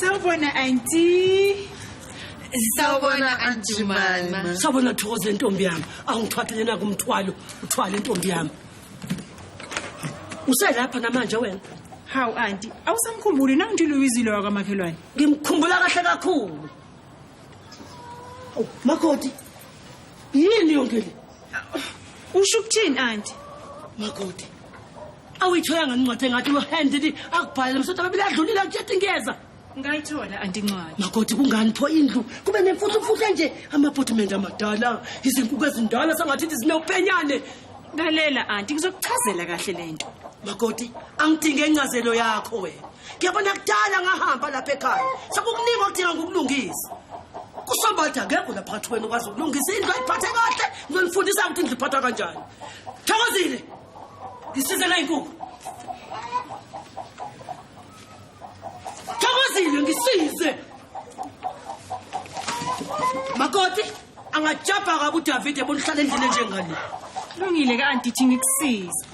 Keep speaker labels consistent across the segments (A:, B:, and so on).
A: Sawubona auntie.
B: Sawubona auntie Jumana. Sawubona Thokoza
C: intombi yami. Awungithwathele na kumthwalo, uthwale intombi yami. Uselapha namanje wena? Hawu auntie,
A: awusamkhumbuli na uNtilo Wizile wakamakhelwane? Ngimkhumbula kahle
C: kakhulu. Makoti. Yini yonke le? Usho
A: ukuthini auntie? Makoti.
C: awuyitholanga incwadi engathi uhandidi akubhalele msotha babili adlulile akujethi ngiyeza ngayithola
A: antincwadi makoti kungani pho
C: indlu kube nemfuthumfuthu enje amapotimende amadala izinkuku ezindala sangathi ithi zinewupenyane lalela
A: anti ngizokuchazela kahle le nto makoti
C: angidinge incazelo yakho wena ngiyabona kudala ngahamba lapha ekhaya sekukuningi okudinga ngokulungisa kusobatha ngekho laphathi wena ukwazi ukulungisa indlu ayiphathe kahle ngizonifundisa ukuthi indlu iphathwa kanjani thokozile ngisizela inkukhu thokozile ngisize makoti angajabha kabi udavide bona uhlala endlini enjengale lungile kanti
A: thi ngikusize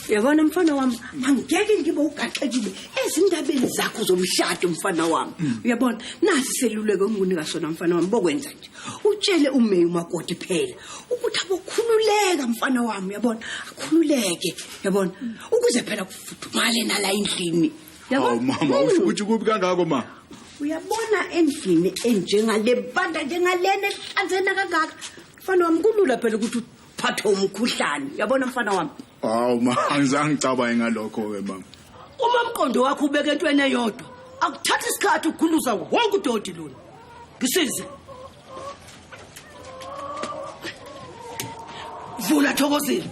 D: yabona mfana wami angeke ngibe ugaxekile ezindabeni zakho zomshado mfana wami uyabona nasi seluleko engunika sona mfana wami bokwenza nje utshele umeyi umakoti phela ukuthi abokhululeka mfana wami uyabona akhululeke uyabona ukuze phela kufudumale nala endlini hawu Oh, mama
E: usho Hmm. ukuthi kubi kangako ma uyabona
D: endlini enjengale banda njengalena ehlanzena kangaka mfana wami kulula phela ukuthi phathwe umkhuhlane yabona mfana wami hawu ma
E: angizange ngicabaye ngalokho-ke mama uma mqondo
C: wakho ubeke entweni eyodwa akuthatha isikhathi ukukhuluza wonke udoti lona ngisize vula thokozile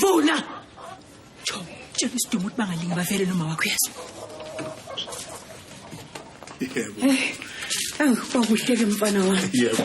C: vula Cho,
A: tshela uSidumo ukuthi bangalingi bavele noma wakho yazi. Yebo.
E: Eh. Awu,
D: kwakuhleke mfana wami. Yebo.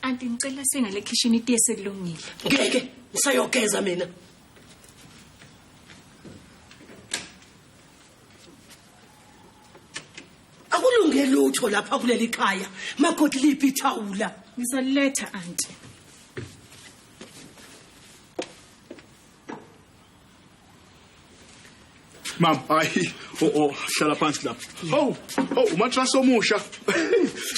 A: Anti ngicela singale kitchen itiye selungile. Ngeke
C: ngisayogeza mina. Akulunge lutho lapha kuleli khaya. Makoti liphi ithawula? Ngizaliletha
A: anti.
E: Mama, hayi, oh oh, hlala phansi lapha. Oh, oh, umatrasi omusha.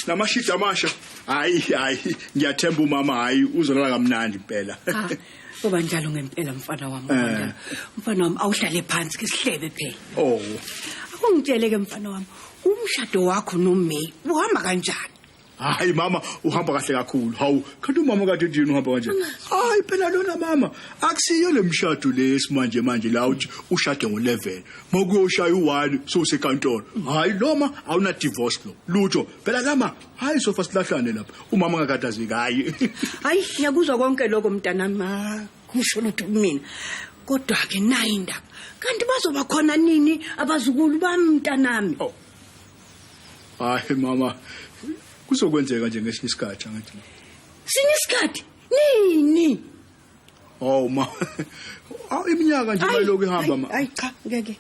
E: Namashidi amasha. Hayi, hayi, ngiyathemba umama hayi uzolala kamnandi impela. Ah, Kuba njalo
D: ngempela mfana wami. Eh. Wanda. Mfana wami awuhlale phansi ke sihlebe phela. Oh. Akungitshele ke mfana wami, umshado wakho noMay uhamba kanjani? hayi mama
E: uhamba kahle kakhulu hawu kanti umama kade ndini uhamba kanje hayi phela lona mama akusiyo lemshado lesi manje manje la uthi ushade ngo11 makuyoshaya u1 so sekantolo hayi loma awuna divorce lo lutho phela lama hayi sofa silahlane lapha umama ngakatazeki hayi hayi ngiyakuzwa
D: konke lokho mntana ma kusho lutho kumina kodwa ke nayi indaba kanti bazoba khona nini abazukulu bami mntanami oh.
E: hayi mama kuzokwenzeka nje ngesinye isikhathi angithi sinye
D: isikhathi nini
E: oh ma awu iminyaka nje mayiloku ihamba ma hayi cha ngeke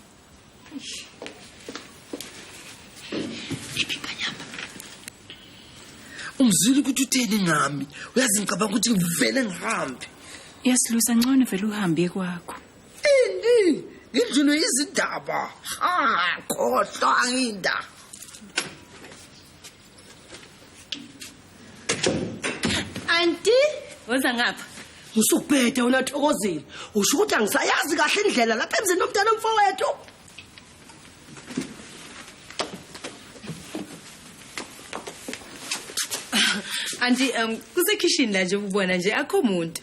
B: umzwile ukuthi utheni ngami uyazi ngicabanga ukuthi ngivele ngihambe yasilusa
A: ngcono vele uhambe kwakho Ini
B: ngidlulwe izindaba. Ha, khohlwa inda.
A: Anti, woza ngapha. Ngisubhede wena
C: Thokozile. Usho ukuthi angisayazi kahle indlela lapha emzini nomntana omfowethu.
F: Anti, um kusekhishini la nje ubona nje akho muntu.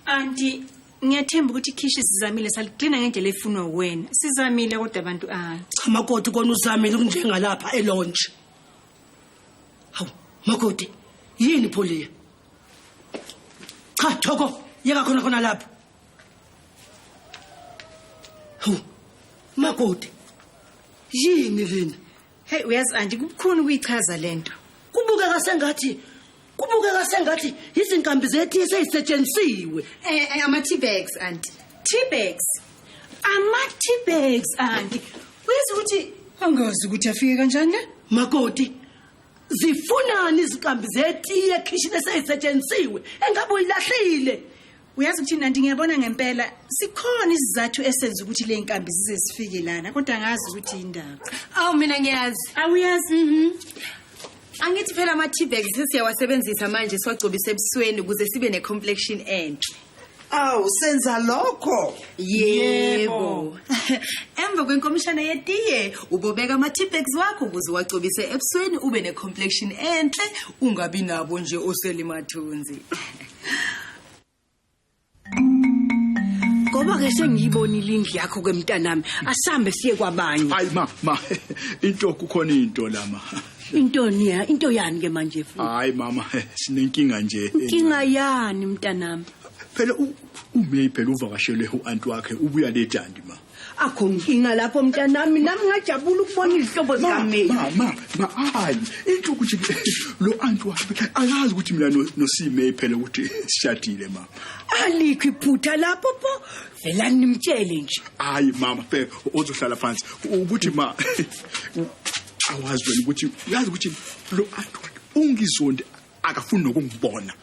F: Anti,
A: ngiyathemba ukuthi ikhishi sizamile saligcina ngendlela efunwa wena sizamile kodwa abantu ayi cha makoti
C: kona uzamile kunjengalapha elonje hawu makoti yini pholiya cha thoko yeka khona khona lapho hawu makoti yini lena Hey uyazi anti
A: kubukhona ukuyichaza lento. Kubukeka sengathi
C: kubukeka sengathi izinkambi zethu eseyisetshenzisiwe. Eh, eh ama tea
A: bags anti. Tea bags. Ama tea bags anti. Uyazi ukuthi angazi ukuthi afike kanjani la? Makoti
C: zifunani izinkambi zetiye ekhishini eseyisetshenzisiwe engabe uyilahlile uyazi ukuthi
A: nanti ngiyabona ngempela sikhona isizathu esenza ukuthi le nkambi zize zifike lana kodwa ngazi ukuthi yindaba awu mina ngiyazi
F: awuyazi mhm. angithi phela ama-tbag sesiyawasebenzisa manje siwagcobise ebusweni ukuze sibe ne-complexion enhle awu
B: senza lokho yebo
F: emva kwenkomishana yetiye ubobeka ama-tbex wakho ukuze uwagcobise ebusweni ube ne-complexion enhle ungabi nabo nje oselimathunzi
D: ngoba ke sengiyibonile indlu yakho kwemntanami asambe siye kwabanye hayi ma ma
E: into kukhona into la ma into niya
D: into yani ke manje futhi hayi mama
E: sinenkinga nje inkinga yani
D: mntanami phela
E: uMay phela uvakashele uanti wakhe ubuya lejandi ma akho nkinga
D: lapho mntanami nami ngajabula ukubona izihlobo zikameli mama
E: hayi into ukuthi lo anti wakhe akazi ukuthi mina nosime phela ukuthi sishadile mama alikho
D: iphutha lapho pho vela nimtshele nje hayi mama phela
E: ozohlala phansi ukuthi ma awazi wena ukuthi uyazi ukuthi lo anti wakhe ungizondi akafuni nokungibona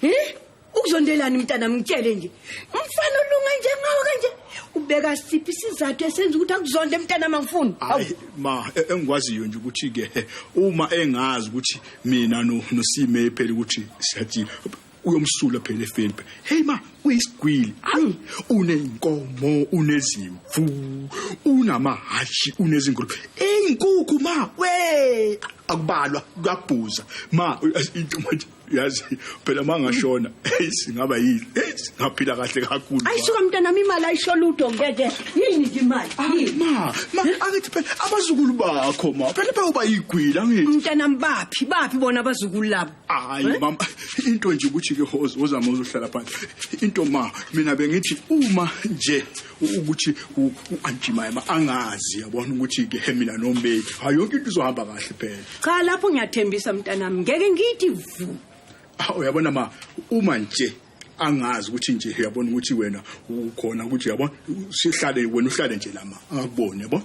E: eh ukuzondelani
D: mntana ngitshele nje umfana olunga njengawo kanje ubeka siphi isizathu esenza ukuthi akuzonde mntana mangifuni hayi ma
E: e- engikwaziyo nje ukuthi ke uma engazi ukuthi mina no nosime phela ukuthi siyathini uyomsula phela efeni hey ma uyisigwili ayi uneyinkomo unezimvu unamahashi unezingulu eyinkukhu ma we akubalwa kuyabhuza ma intomathi uyazi phela uma ngashona eyi singaba yini eyi ngaphila kahle kakhulu ayisuka mntanami imali
D: ayisho lutho ngeke yini nje imali ah, ma ma
E: angithi phela abazukulu bakho ma phela bewuba yigwila ngithi mntanami baphi
D: baphi bona abazukulu labo hayi eh? mama
E: into nje ukuthi ke hoza uzama uzohlala phansi into ma mina bengithi uma nje ukuthi u-antimayema angazi yabona ukuthi ke mina nomeyi hayi yonke into izohamba kahle phela cha lapho ngiyathembisa
D: mntanami ngeke ngithi vu ah, uyabona
E: ma uma nje angazi ukuthi nje uyabona ukuthi wena ukhona ukuthi uyabona sihlale wena uhlale nje lama angakuboni yabona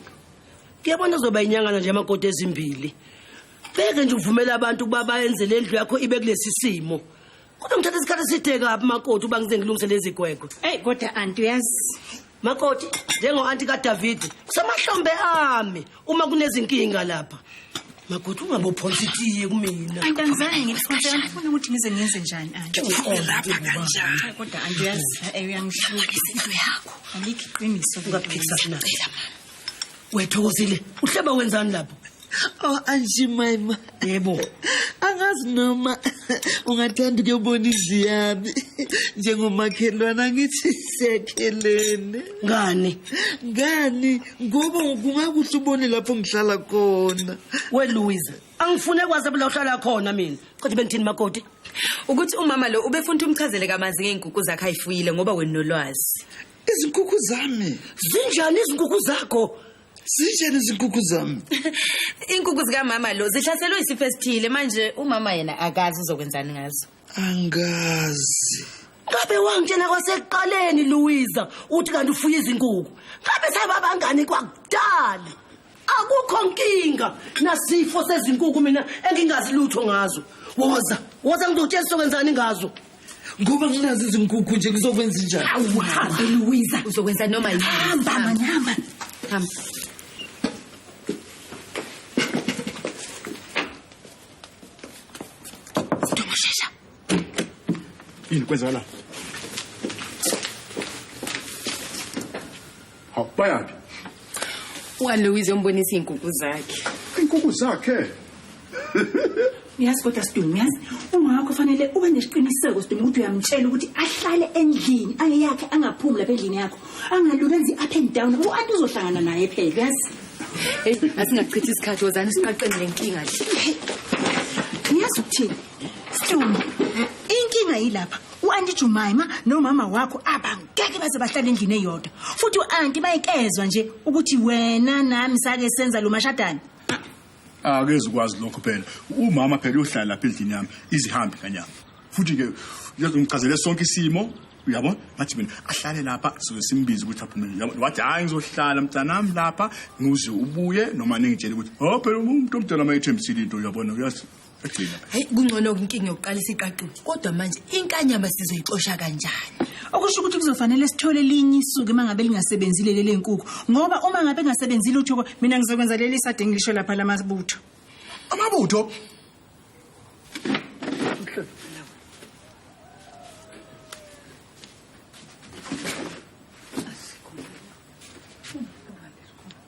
E: kuyabona
C: uzoba inyangana nje amakoti ezimbili beke nje uvumela abantu ukuba bayenze lendlu yakho ibe kulesi simo kodwa ngithatha isikhathi eside kabi makoti uba ngize ngilungise lezi gwegwe eyi kodwa anti
A: uyazi makoti
C: njengo-anti kadavidi kusemahlombe ami uma kunezinkinga lapha makoti ungabophonsa itiye kumina anti angizange ngilifunse
A: angifuni ukuthi ngize ngenze njani anti lapha kanjani
B: kodwa anti uyazi
A: eh, uyangihlukisa into yakho alikho iqiniso ungaphikisa kunacela mama
C: wethokozile uhleba wenzani lapho Oh
B: anjimayima. Yebo.
C: Angazi
B: noma ungathanda ukuyobona indlu yami njengomakhelwana ngithi sekhelene. Ngani?
C: Ngani ngoba
B: kungakuhle ubone lapho ngihlala khona. We Louise,
C: angifune kwazi lapho uhlala khona mina. Kodwa bengithini makoti? Ukuthi umama
F: lo ubefuna umchazele kamanzi ngeenkuku zakhe ayifuyile ngoba wena nolwazi. izinkukhu
B: zami zinjani izinkukhu
C: zakho zinjani
B: izinkukhu zami inkukhu
F: zikamama lo zihlaselwe isifo esithile manje umama yena akazi uzokwenzani ngazo angazi
B: ngabe
C: wangitshela kwasekuqaleni luwiza uthi kanti ufuye izinkukhu ngabe sababangani kwakudali akukho nkinga nasifo sezinkuku mina engingazi lutho ngazo woza woza ngizokutshela sokwenzani ngazo ngoba nginazi
B: izinkukhu nje kuzokwenza njani awuhambe luwiza
F: uzokwenza noma yini hamba manama hamba
A: Ntomoshesha.
E: Yini kwenzakala? Hawu bayaphi?
F: UAloise
E: yombonisa izinkukhu
F: zakhe. Inkukhu zakhe.
A: Uyazi kodwa Sidumo uyazi uma wakho fanele ube nesiqiniseko Sidumo ukuthi uyamtshela ukuthi ahlale endlini angeyakhe angaphumi lapha endlini yakho angaluki enzi up and down u anti uzohlangana naye phela uyazi Hey,
F: asingachithi isikhathi wozani siqaqeni lenkinga nje.
A: Uyazi ukuthini? Sidumo inkinga yilapha u-anti jumaima nomama wakho abangeke baze bahlale endlini eyodwa futhi u-anti bayikezwa nje ukuthi wena nami sake senza lo mashadane akezi
E: ukwazi lokho phela umama phela uyohlala lapha endlini yami izihambe kanyama futhi-ke uyazongichazele sonke isimo uyabo ngathi mina ahlale lapha sizobe simbiza ukuthi aphume yabo wathi hayi ngizohlala mntanami lapha ngize ubuye noma ningitshele ukuthi ho phela umuntu omdala uma ethembisile into uyabona uyazi Regina. Hayi kungcono
F: inkinga yokuqalisa iqaqulu. Kodwa manje inkanyama sizoyixosha kanjani? Okusho ukuthi kuzofanele
A: sithole linye isuku uma ngabe lingasebenzile lele nkukhu ngoba uma ngabe engasebenzile uthoko mina ngizokwenza leli sade ngilisho lapha lamabutho. Amabutho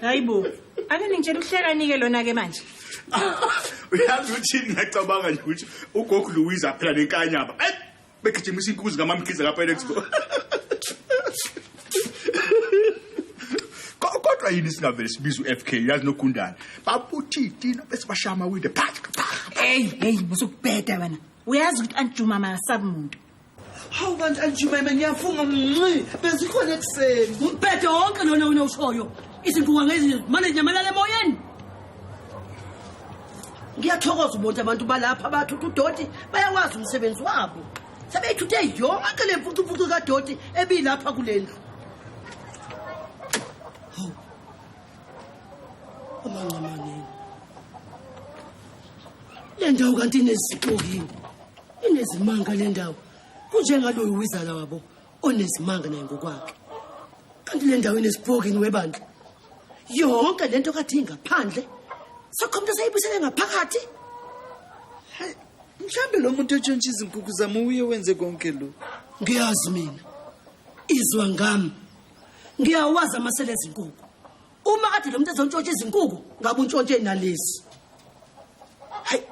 A: hayi bo ake ningitshela uhlekani-ke lona-ke manje
E: uyazi ukuthi ngiyacabanga nje ukuthi ugogo louise aphela nenkanyaba begijimisa inkuzi kamamkhize kapenexpo kodwa yini singavele sibiza u-f k yazi nogundane babuthitina bese bashaya amawinde eyi eyi
A: musukubheda wena uyazi ukuthi antijuma mayasabi muntu hawu kanti
B: antijumayima ngiyafunga mnci bezikhona ekuseni umbhede wonke lona
C: wena ushoyo izinguka ngezi mane nyamalala emoyeni ngiyathokoza ubonti abantu balapha bathutha udoti bayawazi umsebenzi wabo sebeyithuthe yonke le mfucumfucu kadoti ebiyilapha kule ndlu amancamaneni le ndawo kanti inezixokini inezimanga le ndawo kunjengaloyo wizala wabo onezimanga naye ngokwakhe kanti le ndawo inesibhokini webandla yonke le nto kathi ingaphandle sakho mntu esayibuyisele ngaphakathi
B: mhlawumbe lo muntu etshontsha izinkukhu zami uye wenze konke lo ngiyazi mina
C: izwa ngami ngiyawazi amasele ezinkukhu uma kade lo muntu ezontshontsha izinkuku ngabe untshontshe nalezi hayi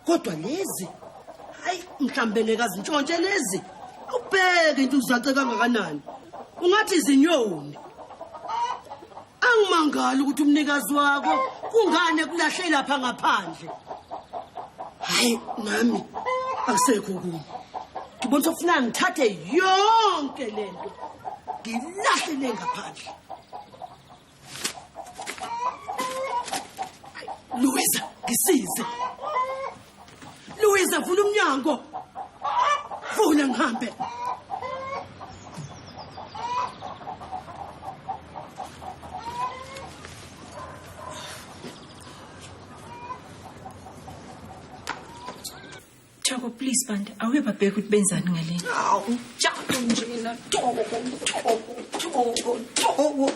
C: kodwa lezi hayi mhlawumbe ngeke azintshontshe lezi ubheke into uzace kangakanani ungathi izinyoni angimangali ukuthi umnikazi wako kungane kulahle lapha ngaphandle hayi nami akusekho kuni ngibona ukuthi ufuna ngithathe yonke lento ngilahlele ngaphandle Luisa, ngisize. Luisa, vula umnyango. Vula ngihambe.
A: Thoko please bantu awuye babheke ukuthi benzani ngaleni. Awu njalo
D: nje mina Thoko Thoko Thoko Thoko.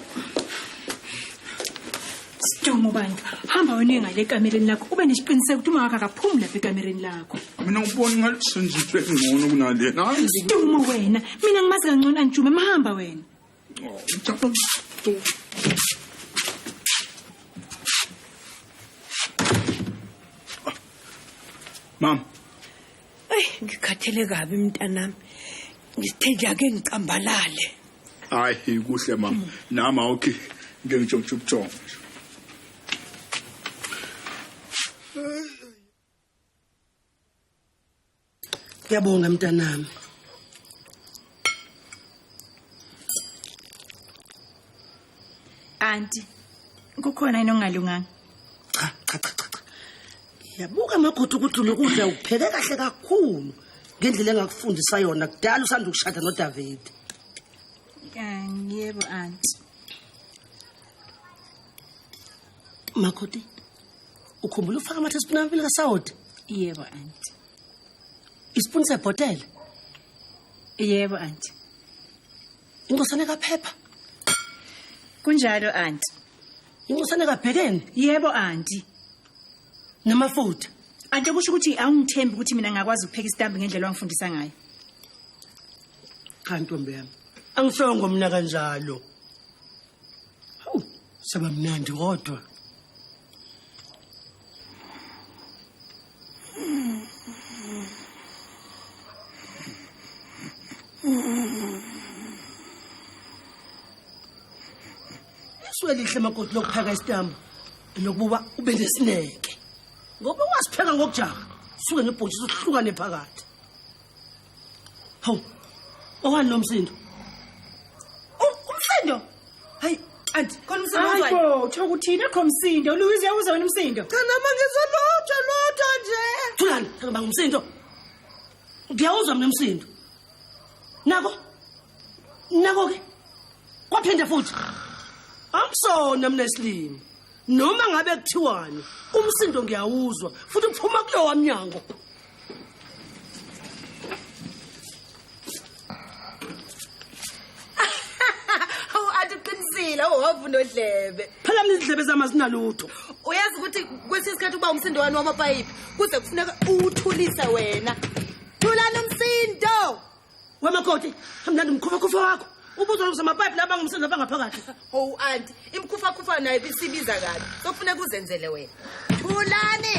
A: Sidumo bantu hamba wena ngale ekamereni lakho ube nesiqiniseko ukuthi umawakhe akaphumi lapha ekamereni lakho. Mina ubona ngathi
E: senjitwe ngcono kunalena. Sidumo wena
A: mina ngimazi kangcono anjume mahamba wena.
E: Mama. Ay,
D: ngikhathele kabi mntanami. Ngithe ngiyake ngicambalale. Hayi
E: kuhle mama. Nama okay. Ngeke ngitshontshe ubuthongo.
C: Ngiyabonga mntanami.
A: Auntie, kukhona yini ongalunganga? Cha, cha,
C: cha, cha. Yabuka amagodo ukuthi lokudla ukupheke kahle kakhulu ngendlela engakufundisa yona kudala usanda ukushada noDavid.
A: Ngiyebo auntie.
C: Makoti, ukhumbula ufaka amathe esipuna amabili kasawoti? Yebo
A: auntie.
C: Isipuni sebhotela?
A: Yebo auntie.
C: Inkosana kaphepha?
A: Kunjalo auntie. Inkosana
C: kabhekeni? Yebo
A: auntie.
C: Namafutha. Ante kusho
A: ukuthi awungithembi ukuthi mina ngakwazi ukupheka isitambu ngendlela ongifundisa ngayo. Cha
C: ntombi yami. Angisongo mina kanjalo. Hawu, saba mnandi kodwa. Swelihle makoti lokuphaka isitambu nokuba ube nesineke. Ngoba wasipheka ngokujaha, suke nebhotshisa uhlukane phakathi. Hawu. Owani lo msindo? Umsindo.
F: Hayi, anti khona umsindo wani? Hayi bo, uthoka uthini akho
A: msindo? Louise yawuza wena umsindo. Cha nama ngizwa
F: lutho lutho nje. Thulani, ngibanga
C: umsindo. Ngiyawuzwa mina umsindo. Nako. Nako ke. Kwaphinde futhi. Amsona mina isilimi. Noma ngabe kuthiwani, umsindo ngiyawuzwa futhi uphuma kulowa mnyango.
F: Hawu athi uqinisile uhovu nodlebe. Phela mina izindlebe zami
C: azinalutho. Uyazi ukuthi
F: kwesinye isikhathi uba umsindo wani wamapayipi kuze kufuneka uwuthulise wena. Thulani umsindo. Wemakoti,
C: hamlanda umkhufa khufa wakho. Ubuzwa ukuthi amapipe laba ngumsindo lapha ngaphakathi. Hawu anti
F: imkhufa khufa nayo bisibiza kabi. Sokufuneka uzenzele wena. Thulani.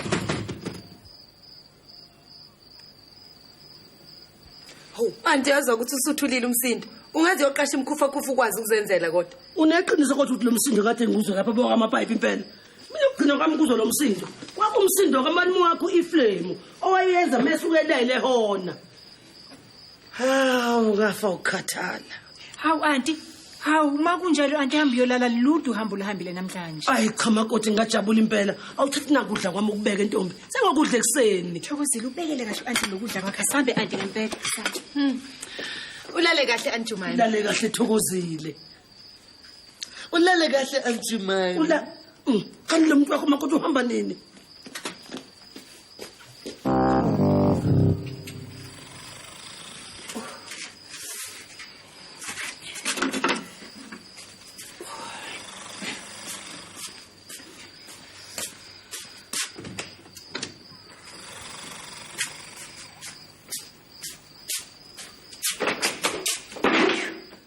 F: Hawu, anti yazwa ukuthi usuthulile umsindo. Ungaze yoqasha imkhufa khufa ukwazi ukuzenzela kodwa. Uneqiniso kodwa ukuthi lo
C: msindo kade ngikuzwe lapha boka amapipe impela. Mina ukugcina kwami kuzwa lo msindo. Kwakumsindo kamani wakho iflame owayenza mese ukelele hona. hawu ngafa ukukhathala hawu anti
A: hawu uma kunjalo anti hambe uyolala ludu uhambe uluhambile namhlanje ayi cha makoti
C: ngingajabula impela awuthathi nakudla kwami ukubeka entombi sengokudla ekuseni thokozile ubekele kahle
A: anti lokudla kwakhe asambe anti ngempela
F: ulale kahle anti jumane lale kahle thokozile
B: ulale kahle anti mine ula mm, kanti
C: lo muntu wakho makoti uhamba nini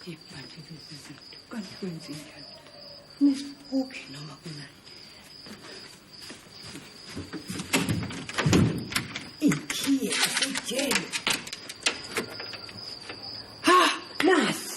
D: Okay, manje lezi zinto kanti kwenzenjani? Nesibuke noma kunani? Ikhiye asijele. Ha, nasi.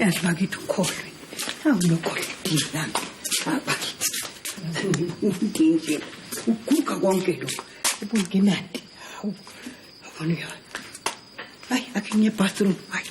D: yazi bakithi ukholwe awulokholwe dinami bakithi udinje uguga konke lokhu ubunginandi abona uyona hayi akhe ngiye bathroom hayi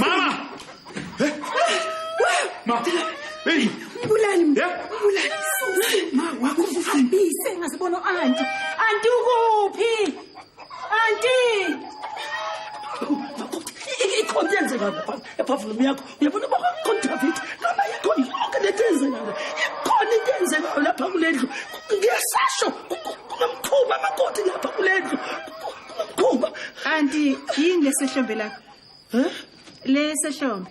A: Mama! Eh? Ma! Hey! Mbulali mna. Yeah? Mbulali. Ma wakho uhambise ngazibona anti. Anti ukuphi? Anti! Ikhontenze ngapha. Ephavume yakho. yabona baba mkhulu david noma yikho yonke lento enzekayo ikhona into enzekayo lapha kule ndlu ngiyasasho kunomkhuba amakoti lapha kule ndlu kunomkhuba kanti yini lesehlombe lapha um lesehlombe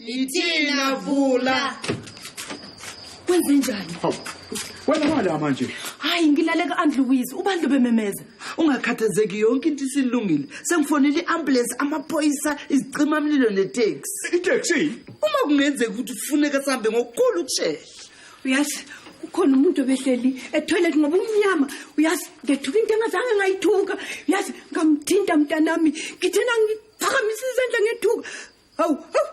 E: Yithina
F: vula.
D: Kwenze njani? Hawu.
E: Wena mala manje. Hayi ngilale ka
F: Aunt Louise, ubandlu bememeza. Ungakhathazeki yonke into isilungile. Sengifonele iambulance, amaphoyisa, izicima mlilo neTaxi. ITaxi? Uma
E: kungenzeka
F: ukuthi ufuneka sambe ngokukhulu ukushesha. Uyazi
D: kukhona umuntu obehleli etoilet ngoba umnyama uyazi ngethuka into engazange ngayithuka uyazi ngamthinta mntanami ngithena ngiphakamisa izandla ngethuka Hawu, hawu.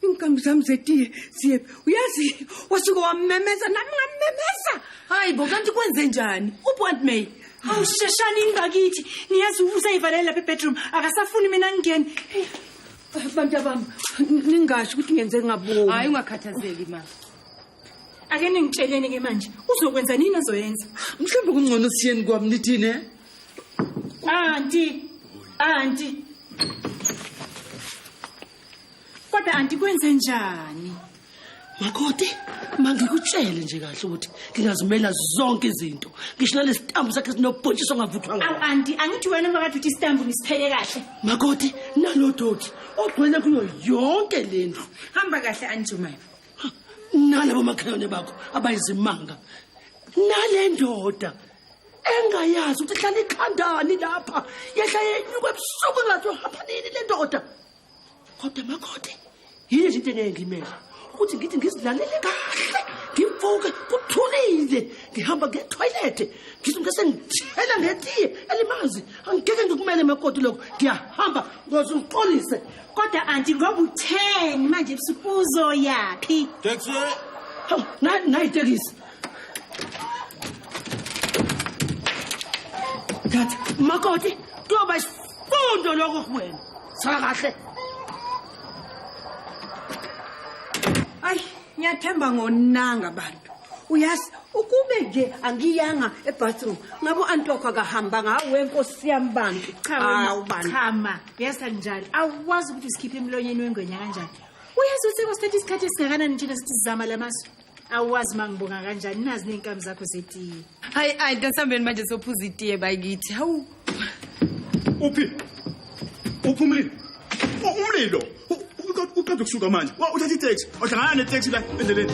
D: Inkambi zami zetiye siye. Uyazi wasuke wamemeza nami ngamemeza. Hayi bo kanti
F: kwenze njani? Ubont May. Hawu sheshani
A: ingakithi. Niyazi usayivalela lapha ebedroom akasafuni mina ngingene. Hey,
D: Bantu abami ningasho ukuthi ngenze ngabomi. Hayi ungakhathazeki
F: ma. Ake
A: ningitsheleni ke manje uzokwenza nini ozoyenza? Mhlawumbe kungcono
F: siyeni kwami nithini eh? Anti,
A: anti. Kodwa anti kwenze njani? Makoti,
C: mangikutshele nje kahle ukuthi ngingazimela zonke izinto. Ngisho nalesitambu sakhe sinobhontshisi ongavuthwa ngawo. Awu anti, angithi wena makade
A: uthi isitambu ngisithele kahle. Makoti,
C: nalodoti ogcwele kuyo yonke lendlu. Hamba kahle
F: anjumaya. Nalabo
C: makhelwane bakho abayizimanga. Nalendoda engayazi ukuthi hlala ikhandani lapha yehla yenyuka ebusuku engathi uhapha nini le ndoda kodwa makhode yini nje into engeke ngimele ukuthi ngithi ngizilalele kahle ngimfuke kuthulile ngihamba ngetoilethe ngithi ngese ngithela ngetiye elimazi angigeke ngikumele makoti lokho ngiyahamba ngoze uqolise kodwa anti ngoba
A: utheni manje ebusuku uzoyaphi taxi
C: nayitekisi Dad, makoti, kuyoba isifundo lokho kuwena. Saka kahle.
D: Ay, ngiyathemba ngonanga abantu. Uyazi ukube nje angiyanga ebathroom ngabo antokho akahamba ngawe nkosi yami bantu. Cha wena, cha
A: ma, yesa njalo. Awazi ukuthi usikhiphe emlonyeni wengwenya kanjani. uyazi usekosikhathi isikhathi esingakanani thina sithi sizama la masu awazi uma ngibonga kanjani nazi ney'nkabi zakho zetiye hayi ayi ntasambeni
F: manje sophuza itiye bakithi hawu
E: uphi uphi umlilo U- umlilo U- u- uqeda uqeda ukusuka manje Wa- uthatha iteksi wahlangana neteksi la endleleni